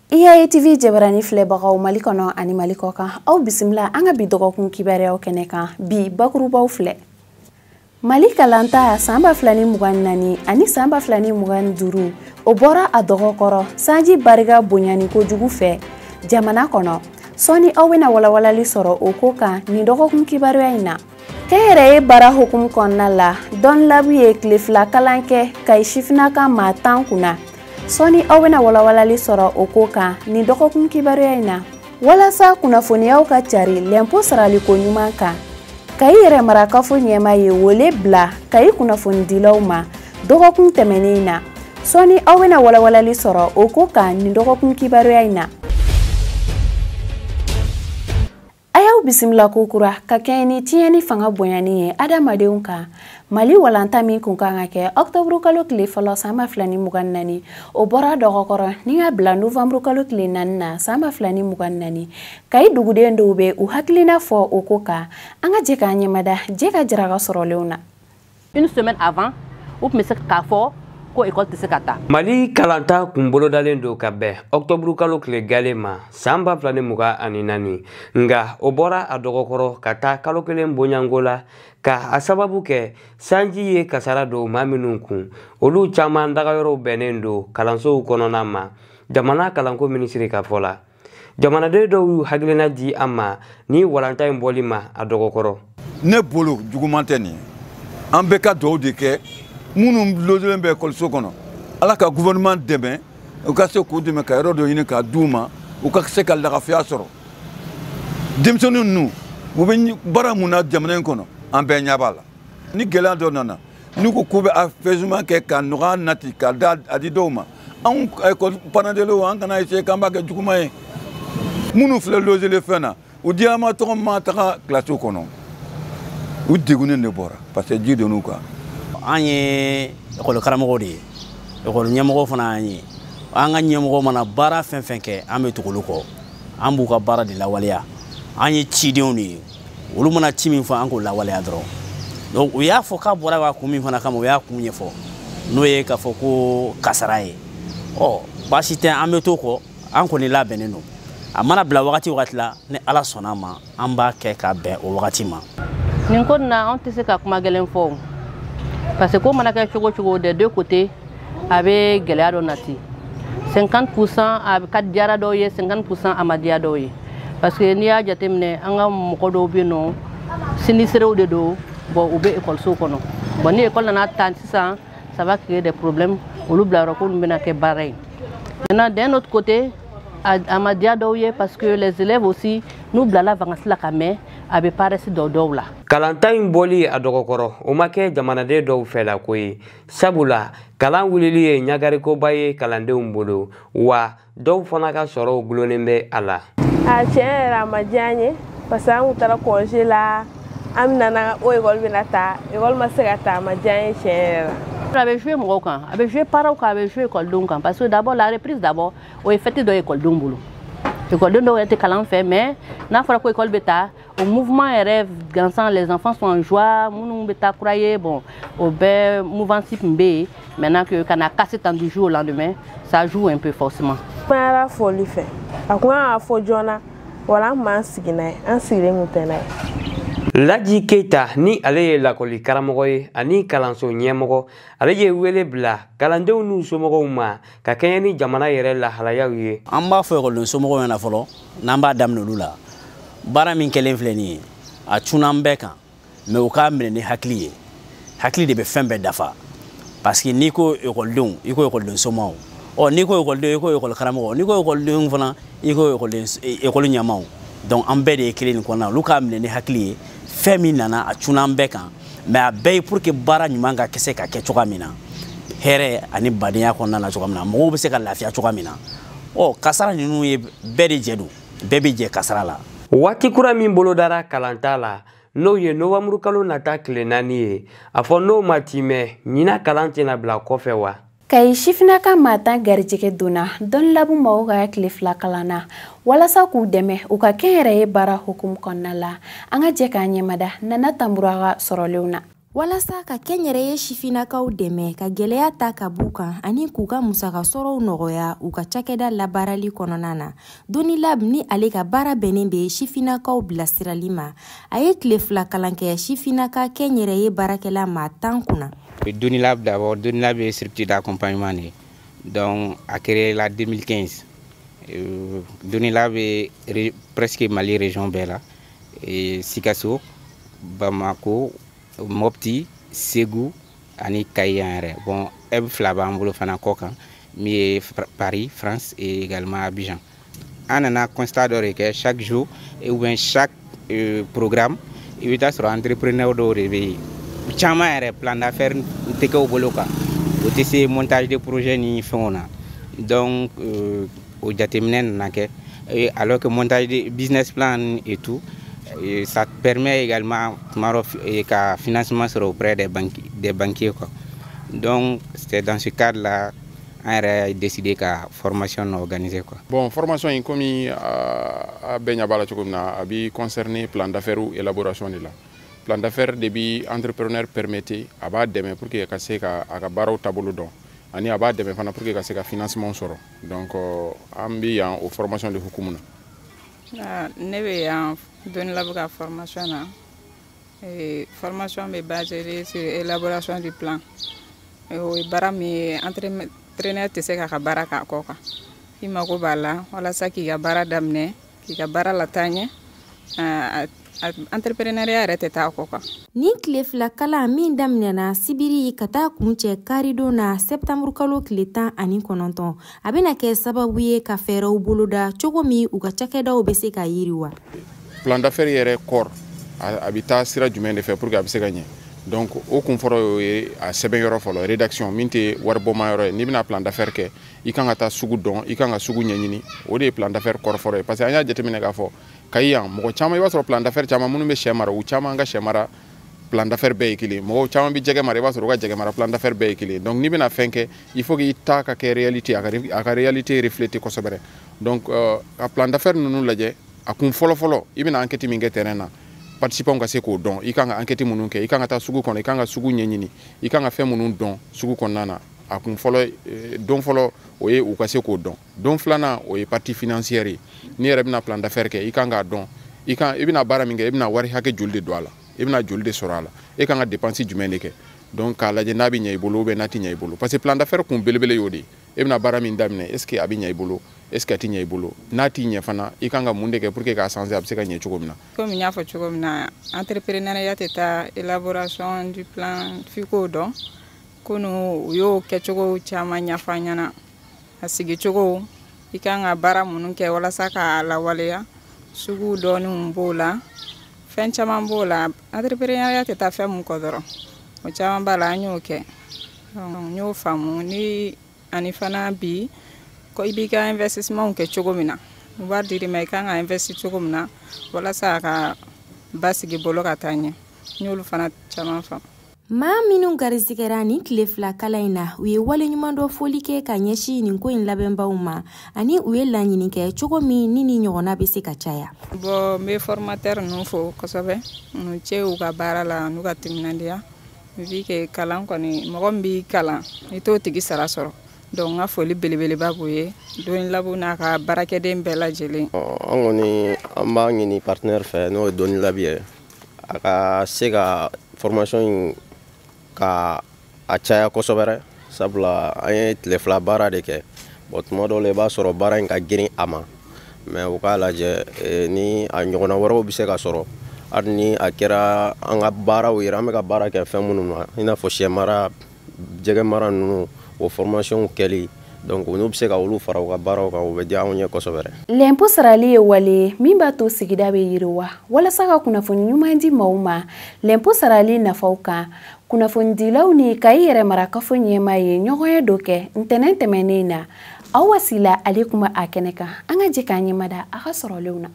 EAA TV jabarani filɛbagaw Mali kɔnɔ ani Mali kɔkan aw bisimila an ka bi dɔgɔkun kibaruyaw kɛnɛ kan bi bakurubaw filɛ Mali kalanta san ba fila ni mugan ni naani ani san ba fila ni mugan ni duuru o bɔra a dɔgɔkɔrɔ sanji barika bonyani kojugu fɛ jamana kɔnɔ sɔɔni aw bɛna walawalali sɔrɔ o ko kan nin dɔgɔkun kibaruya in na kɛnyɛrɛye baara hukumu kɔnɔna la DoniLab ye tile fila kalan kɛ kayi sifinaka maa tan kunna sɔɔni aw bɛna walawalali sɔrɔ o ko kan nin dɔgɔkun kibaruya in na walasa kunnafoniyaw ka cari lɛnpo saraliko ɲuman kan kayi yɛrɛmarakafo ɲɛmaa ye wele bila kayi kunnafonidilaw ma dɔgɔkun tɛmɛnen in na sɔɔni aw bɛna walawalali sɔrɔ o ko kan nin dɔgɔkun kibaruya in na A y'aw bisimila kokura ka kɛɲɛ ni tiɲɛni fanga bonyani ye adamadenw kan mali walanta min kun kan ka kɛ ɔktɔburu kalo tile fɔlɔ san ba fila ni mugan ni naani o bɔra dɔgɔkɔrɔ ni ka bila novanburu kalo tile naani na san ba fila ni mugan ni naani kayi duguden dɔw bɛ u hakilina fɔ o ko kan an ka jɛ k'an ɲɛmada jɛ ka jaraka sɔrɔlenw na une semaine avant u tun bɛ se k'a fɔ ko ekɔli tɛ se ka taa mali kalanta kun bolodalen don ka bɛn ɔktɔburu kalo tile galen ma san ba fila ni mugan ani naani nka o bɔra a dɔgɔkɔrɔ ka taa kalo kelen bonyanko la ka a sababu kɛ sanji ye kasara don maa minnu kun olu caman dagayɔrɔw bɛnnen don kalansow kɔnɔna ma jamana kalanko minisiri ka fɔ la jamanaden dɔw y'u hakilina di an ma ni walanta in bɔli ma a dɔgɔkɔrɔ ne bolo juguman tɛ nin ye an bɛ ka dugawu de kɛ minnu lozelen bɛ ekɔliso kɔnɔ ala ka gouvernement dɛmɛ u ka se k'u dɛmɛ ka yɔrɔ dɔ ɲini k'a d'u ma u ka se ka lagafiya sɔrɔ denmisɛnnin ninnu u bɛ baara mun na jamana in kɔnɔ an bɛɛ ɲɛ b'a la ni gɛlɛya dɔ nana n'u ko k'u bɛ a fɛzuma kɛ ka nɔgɔya nati ka da a di dɔw ma anw parents d'élèves an kana essayer k'an b'a kɛ juguman ye minnu filɛ lozelen fɛn na u diyama tɔgɔ ma taga kilasiw kɔnɔ u degunnen de bɔra parce que ji donn'u kan an ye ekɔli karamɔgɔ de ye ekɔli ɲɛmɔgɔ fana y'an ye an ka ɲɛmɔgɔ mana baara fɛn fɛn kɛ an bɛ tugu olu kɔ an b'u ka baara de lawaleya an ye cidenw de ye olu mana ci min fɔ an k'o lawaleya dɔrɔn donc u y'a fɔ k'a bɔra ka kun min fana kama u y'a kun ɲɛfɔ n'o ye k'a fɔ ko kasara ye ɔ baasi tɛ an bɛ to kɔ an kɔni labɛnnen don a mana bila wagati wagati la ni ala sɔnna a ma an b'a kɛ ka bɛn o wagati ma nin ko nin na anw tɛ se ka kuma gɛlɛn fɔ parce que ko mana kɛ cogo cogo des deux côtés a bɛ gɛlɛya dɔ nati 50 pourcent a ka diyara dɔw ye 50 pourcent a ma diya dɔw ye parce que n'i y'a jateminɛ an ka mɔgɔ dɔw bɛ yen n'o sinistrés de don bon u bɛ ekɔlisow kɔnɔ bon ni ekɔli nana ta sisan ça va créer des problèmes olu bilayɔrɔ ko ninnu bɛna kɛ baara ye maintenant d'un autre côté a ma diya dɔw ye parce que les élèves aussi n'u bilala vacances la ka mɛn a bɛ paresse don dɔw la kalanta in bɔli a dɔgɔ kɔrɔ o ma kɛ jamanaden dɔw fɛla ko ye sabula kalan wulili ye ɲagarikoba ye kalandenw bolo wa dɔw fana ka sɔrɔw gulonnen bɛ a la a tiɲɛ yɛrɛ a ma diya n ye parce que an kun taara congé la an nana o ekɔli bɛna ta ekɔli ma se ka ta a ma diya n ye tiɲɛ yɛrɛ la a bɛ jouer mɔgɔw kan a bɛ jouer parents kan a bɛ jouer ekɔlidenw kan parce que d'abord la reprise d'abord o ye fɛti dɔ ye ekɔlidenw bolo ekɔliden dɔw yɛrɛ tɛ kalan fɛ mais n'a fɔra ko ekɔli bɛ ta o mouvement yɛrɛ gansan les enfants sont en joie minnu bɛ taa kura ye bon o bɛɛ mouvance tun bɛ yen maintenant que ka na casser tan du jour au lendemain ça joue un peu forcément. kumaya fɔli fɛ a kun kan ka fɔ joona wala an tun b'an sigi n'a ye an sigilen tun tɛ n'a ye. laji keyita ni ale ye lakɔli karamɔgɔ ye ani kalanso ɲɛmɔgɔ ale ye wele bila kalandenw n'u somɔgɔw ma ka kɛɲɛ ni jamana yɛrɛ lahalayaw ye an b'a fɔ ekɔliden somɔgɔw ɲɛna fɔlɔ n'an b'a daminɛ olu la baara min kɛlen filɛ nin ye a cunna an bɛɛ kan mais u k'a minɛ ni hakili ye hakili de bɛ fɛn bɛɛ dafa parce que n'i ko ekɔlidenw i ko ekɔliden somɔgɔw n'i ko ekɔliden i ko ekɔli karamɔgɔ n'i ko ekɔlidenw fana i ko ekɔliden ekɔli ɲɛmaaw donc an bɛɛ de ye kelen nin kɔnɔna na olu k'a minɛ ni hakili ye fɛn min nana a cunna an bɛɛ kan mais a bɛɛ ye pour que baara ɲuman ka kɛ se ka kɛ cogoya min na hɛrɛ ani badenya kɔnɔna na cogoya min na mɔgɔw bɛ se ka lafiya cogoya min na ɔ kasara ninnu ye bɛɛ de jɛ don bɛɛ bɛ jɛ kasara la waati kura min bolodara kalanta la n'o ye nowanburukalo nata tile naani ye a fɔ n'o ma timɛ ɲinan kalan tɛna bila kɔfɛ wa kayi sifinnaka maa tan garijɛgɛ donna Donilab mɔgɔw ka tile fila kalan na walasa k'u dɛmɛ u ka kɛnyɛrɛye baara hukumu kɔnɔna la an ka jɛ k'an ɲɛmada nana tambura ka sɔrɔlenw na walasa ka kɛnyɛrɛye sifinnakaw dɛmɛ ka gwɛlɛya ta ka b'u kan ani k'u ka musaka sɔrɔw nɔgɔya u ka cakɛda labaarali kɔnɔna na Donilab ni ale ka baara bɛnnen bɛ sifinnakaw bilasirali ma a ye tile fila kalan kɛ sifinnaka kɛnyɛrɛye baarakɛla maa tan kunna Donilab d'abord Donilab structure d'accompagnement de don a créé la 2015 Donilab bɛ presque mali région bɛɛ la sikaso bamako mɔpti segu ani kayi yan yɛrɛ bon hub fila b'an bolo fana kɔkan min ye paris france et également abidjan an nana constat dɔ de kɛ chaque jour et ou bien chaque euh, programme i bɛ t'a sɔrɔ entrepreneur dɔw de bɛ yen caman yɛrɛ plan d'affaires tɛ kɛ u bolo kan o tɛ se montage de projet ni fɛnw na donc euh, o jateminɛ nana kɛ et alors que montage de business plan et tout et ça permet également tuma dɔ ka financement sɔrɔ auprès des banquiers quoi donc c'est dans ce cadre là an yɛrɛ décidé ka formation organisé quoi. bon formation in komi a bɛɛ ɲɛ b'a la cogo min na a bi concerner plan d'affaires élaboration de la plan d'affaires de bi entrepreneur permettre a b'a dɛmɛ pour que ka se ka a ka baaraw taabolo dɔn ani a b'a dɛmɛ fana pour que ka se ka financement sɔrɔ donc euh, an bɛ yan o formation de hukumu na. Ah, ne bɛ yan DoniLab ka formation na. Eh, formation bɛ basée sur élaboration du plan eh, o ye baara min ye entrepreneur tɛ se k'a ka baara k'a kɔ kan i mago b'a la walasa k'i ka baara daminɛ k'i ka baara lataa ɲɛ eh, entrepreneuriat yɛrɛ tɛ taa kɔ kan nin tile fila kalan min daminɛna sibiri ka taa kuncɛ karidon na sɛtanburu kalo tile tan ani kɔnɔntɔn a bɛna kɛ sababu ye ka fɛɛrɛw boloda cogo min u ka cakɛdaw bɛ se ka yiriwa plan d'affaires yɛrɛ kɔrɔ a bɛ taa sira jumɛn de fɛ pour que a bɛ se ka ɲɛ donc o kun fɔlɔ y'o ye a sɛbɛn yɔrɔ fɔlɔ rédaction min tɛ waribɔma yɔrɔ ye n'i bɛna plan d'affaires kɛ i kan ka taa sugu dɔn i kan ka sugu ɲɛɲini o de ye plan d'affaires kɔrɔ fɔlɔ ye parce que an y'a jateminɛ k'a fɔ kayi yan mɔgɔ caman i b'a sɔrɔ plan d'affaires caman minnu bɛ sɛ mara u caman ka sɛ mara plan d'affaires bɛɛ ye kelen mɔgɔw caman bɛ jɛgɛ mara i b'a sɔrɔ u ka jɛgɛ mara plan d'affaires bɛɛ ye kelen donc n'i bɛna fɛn kɛ il faut k'i ta ka kɛ réalité a ka réalité refléter kosɛbɛ donc euh, a plan d'affaire ninnu lajɛ a kun fɔlɔfɔlɔ i bɛna enquête min kɛ terrain na participants ka se k'o dɔn i kan ka enquête minnu kɛ i kan ka taa sugu kɔnɔ i kan ka sugu ɲɛɲini i kan ka fɛn minnu dɔn sugu kɔnɔna na a kun fɔlɔ eh, don fɔlɔ o ye u ka se k'o dɔn don filanan o ye partie financière ye n'i yɛrɛ bɛna plan d'affaire kɛ i kan k'a dɔn i kan i bɛna baara min kɛ i bɛna wari hakɛ joli de don a la i bɛna joli de sɔrɔ a la e kan ka dépense jumɛn de kɛ donc k'a lajɛ n'a bɛ ɲɛ i bolo ou bien n'a tɛ ɲɛ i bolo parce que plan d'affaire kun belebele y'o de ye e bɛna baara min daminɛ est ce que a bɛ ɲɛ i bolo est ce que a tɛ ɲɛ i bolo n'a tɛ ɲɛ fana i kan ka mun de kɛ pour que k'a sanse a bɛ se ka ɲɛ cogo min na komi n y'a fɔ cogo min na entrepreneuriat tɛ taa élaboration du plan f'i k'o dɔn kunun u y'o kɛcogo caman ɲɛfɔ an ɲɛna a sigicogo i kan ka baara minnu kɛ walasa k'a lawaleya sugu dɔnni b'o la fɛn caman b'o la entrepreneuriat tɛ taa fɛn min kɔ dɔrɔn o caman b'a la an y'o kɛ n y'o faamu ni ani fana bi ko i b'i ka investissementw kɛ cogo min na wari dir'i ma i kan ka investi cogo min na walasa a ka basigi bolo ka taa ɲɛ n y'olu fana caman faamu maa minnu garisigɛra nin tile fila kalan in na u ye waleɲumandɔn foli kɛ ka ɲɛsin nin ko in labɛnbaw ma ani u ye laɲini kɛ cogo min ni nin ɲɔgɔnna bɛ se ka caya bɔn n bɛ formatɛr ninnu fo kosɛbɛ n'u ce u ka baara la n'u ka timinandiya vu que kalan kɔni mɔgɔ min b'i kalan i t'o tigi sara sɔrɔ donc n ka foli belebeleba b'u ye donilab n'a ka baarakɛden bɛɛ lajɛlen an kɔni an b'a ɲini partenaire fɛ n'o ye donilab ye a ka se ka formation in ka a caya kosɛbɛrɛ sabula an ye tile fila baara de kɛ bɔn tuma dɔw la i b'a sɔrɔ baara in ka girin a ma mɛ u k'a lajɛ eh, ni a ɲɔgɔnna wɛrɛw bɛ se ka sɔrɔ hali ni a kɛra an ka baaraw yɛrɛ an bɛ ka baara kɛ fɛn minnu na i n'a fɔ sɛ mara jɛgɛ mara ninnu o fɔrmasiyɔnw kɛli donc n'u bɛ se ka olu fara u ka baaraw kan o bɛ diya anw ye kosɛbɛrɛ lɛnpo sarali ye wale ye min b'a to sigida bɛ yiriwa walasa ka kunnafoni ɲuman di maaw ma lɛnpo sarali nafaw kan kunnafonidilaw ni kayi yɛrɛmarakafo ɲɛmaa ye ɲɔgɔnye dɔ kɛ ntɛnɛn tɛmɛnnen na aw wasila ale kuma a kɛnɛ kan an ka jɛ k'an ɲɛmada a ka sɔrɔlenw na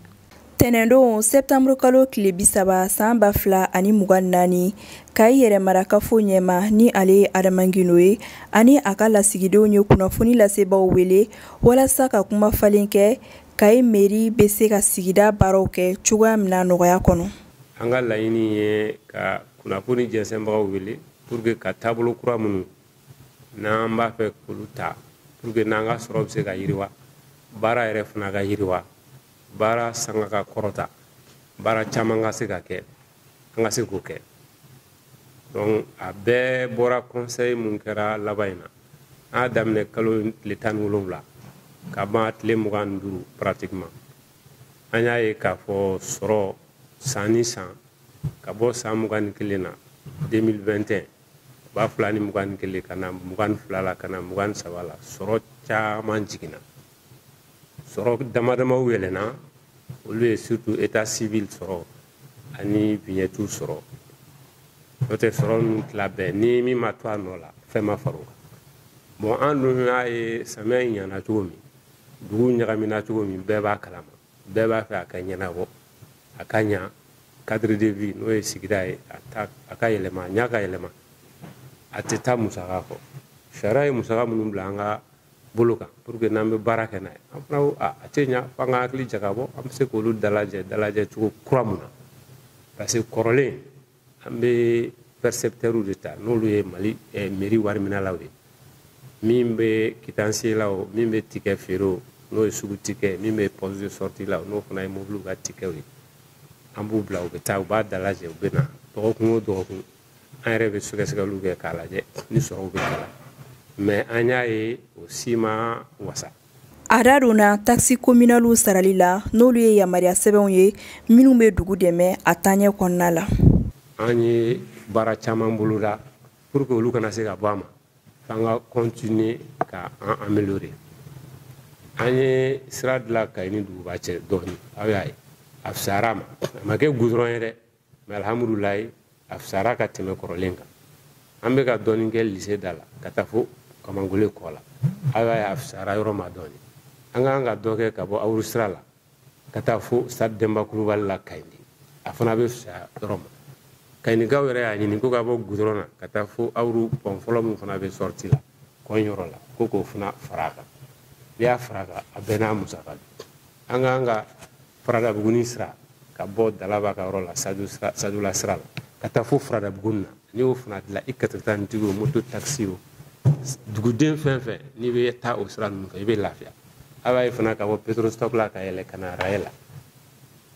tɛnɛndon sɛptanburu kalo tile bisaba san ba fila ani mugan naani kayi yɛrɛmarakafo ɲɛmaa ni ale ye adama gindo ye ani a ka lasigidenw ye kunnafoni lasebaaw wele walasa ka kuma falen kɛ kayi meri bɛ se ka sigida baaraw kɛ cogoya min na nɔgɔya kɔnɔ an ka laɲini ye ka kunnafoni jɛnsɛnbagaw wele pour que ka taabolo kura minnu n'an b'a fɛ k'olu ta pour que n'an ka sɔrɔ bɛ se ka yiriwa baara yɛrɛ fana ka yiriwa baara sanga ka kɔrɔta baara caman ka se ka kɛ an ka se k'o kɛ donc a bɛɛ bɔra conseil mun kɛra laban in na an y'a daminɛ kalo tile tan ni wolonwula ka ban tile mugan ni duuru pratiquement an y'a ye k'a fɔ sɔrɔ san ni san ka bɔ san mugan ni kelen na 2021 ba fila ni mugan ni kelen ka na mugan ni fila la ka na mugan ni saba la sɔrɔ caman jiginna sɔrɔ dama damaw yɛlɛnna olu ye surtout état civil sɔrɔ ani vignette sɔrɔ n'o tɛ sɔrɔ ninnu tila bɛɛ ni min ma to a nɔ la fɛn ma fara o kan bon an dun y'a ye samiya in ɲana cogo min dugu ɲagamina cogo min bɛɛ b'a kalama bɛɛ b'a fɛ a ka ɲɛnabɔ a ka ɲa cadre de vie n'o ye sigida ye a ka yɛlɛma a ɲa ka yɛlɛma a tɛ taa musaka kɔ sariya ye musaka minnu bila an ka bolo kan pour que n'an bɛ baara kɛ n'a ye an fana ko a tɛ ɲa fo an ka hakili jagabɔ an bɛ se k'olu dalajɛ dalajɛ cogo kura mun na parce que kɔrɔlen an bɛ percepteurs de ta n'olu ye mali eh, meri wariminalaw ye min bɛ kitansiye la o min bɛ tikɛ feere o n'o ye sugu tikɛ min bɛ poste de sortie la n'o fana ye mobiliw ka tikɛw ye an b'u bila u bɛ taa u b'a dalajɛ u bɛ na dɔgɔkun o dɔgɔkun an yɛrɛ bɛ sɛgɛsɛgɛliw kɛ k'a lajɛ ni sɔrɔw bɛ k'a la mais an y'a ye o si ma wasa A da donna taxes communales sarali la n'olu ye yamaruya sɛbɛnw ye minnu bɛ dugu dɛmɛ a taaɲɛ kɔnɔna la. An ye baara caman boloda pour que olu ka na se ka bɔ a ma, f'an ka continuer ka an améliorer. An ye sira dilan Kayi ni duguba cɛ dɔɔni, aw y'a ye, a fisayara a ma, a ma kɛ goudron ye dɛ. mais alhamdulillah a fisara ka tɛmɛ kɔrɔlen kan an bɛ ka dɔɔni kɛ lise da la ka taa fo kamangole kɔ la aw y'a ye a fisara yɔrɔ ma dɔɔni an ka kan ka dɔ kɛ ka bɔ awuru sira la ka taa fo stade denba kulubali la kayindi a fana bɛ fisaya yɔrɔ ma kayinikaw yɛrɛ y'a ɲini ko ka bɔ gudɔrɔn na ka taa fo awuru pɔn fɔlɔ min fana bɛ sɔriti la kɔn yɔrɔ la ko k'o fana fara a kan n'i y'a fara a kan a bɛɛ n'a musaka don an ka kan ka faradabuguni sira ka bɔ dalaba ka yɔrɔ la sadula sira la ka taa fo faradabuguni na n'i y'o fana dilan i katakatanitigi o moto takisi o duguden fɛn fɛn n'i bɛ taa o sira ninnu fɛ i bɛ lafiya a b'a ye fana ka bɔ petrostop la ka yɛlɛ ka na araye la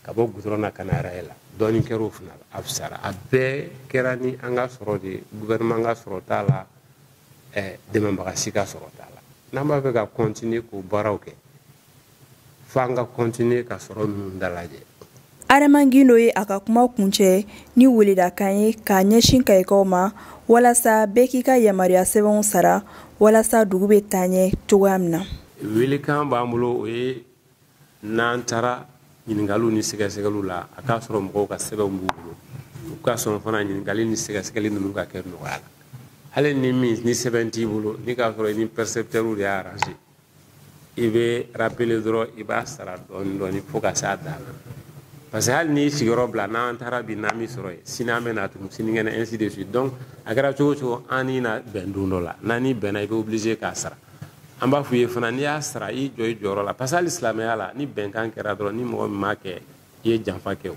ka bɔ gudɔrɔn na ka na araye la dɔɔnin kɛra o fana la a fisara a bɛɛ kɛra ni an ka sɔrɔ de ye gouvernement ka sɔrɔ t'a la dɛmɛbaga si ka sɔrɔ t'a la n'an b'a fɛ ka continuer k'o baaraw kɛ f'an ka kɔntiniye ka sɔrɔ ninnu dalajɛ adama gindo ye a ka kuma kuncɛ ni weledakan ye k'a ɲɛsin kayikaw ma walasa bɛɛ k'i ka yamaruya sɛbɛnw sara walasa dugu bɛ taa ɲɛ cogoya min na welekan b'an bolo o ye n'an taara ɲininkaliw ni sɛgɛsɛgɛliw la a k'a sɔrɔ mɔgɔw ka sɛbɛnw b'u bolo u ka sɔn fana ɲininkali ni sɛgɛsɛgɛli ninnu ka kɛ nɔgɔya la hali ni min ni sɛbɛn t'i bolo ni k'a sɔrɔ i ni pɛrɛsɛpitɛriw de y'a aranze i bɛ rapele dɔrɔn i b'a sara dɔɔni dɔɔni fo ka s'a dan na parce que hali n'i sigiyɔrɔ bila n'an taara bi n'an m'i sɔrɔ yen sini an bɛ na tugun sinikɛnɛ ainsi de suite donc a kɛra cogo o cogo an n'i na bɛn don dɔ la n'an n'i bɛnna i bɛ obligé k'a sara an b'a f'u ye fana n'i y'a sara i jɔ i jɔyɔrɔ la parce que hali silamɛya la ni bɛnkan kɛra dɔrɔn ni mɔgɔ min m'a kɛ i ye janfa kɛ o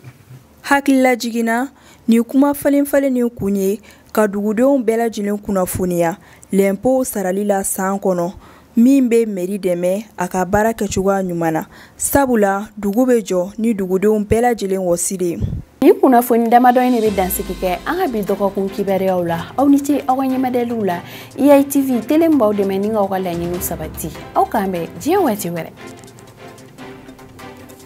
hakililajigin ni kuma falen falen nin kun ye ka dugudenw bɛɛ lajɛlen kunnafoniya lɛnpow sarali la san kɔnɔ min bɛ meri dɛmɛ a ka baara kɛcogoya ɲuman na sabula dugu bɛ jɔ ni dugudenw bɛɛ lajɛlen wɔsi de ye nin kunnafoni damadɔ in de bɛ dansigi kɛ an ka bi dɔgɔkun kibaruyaw la aw ni ce aw ka ɲɛmajɔliw la eitv tele min b'aw dɛmɛ ni k'aw ka laɲiniw sabati aw k'an bɛn diɲɛ waati wɛrɛ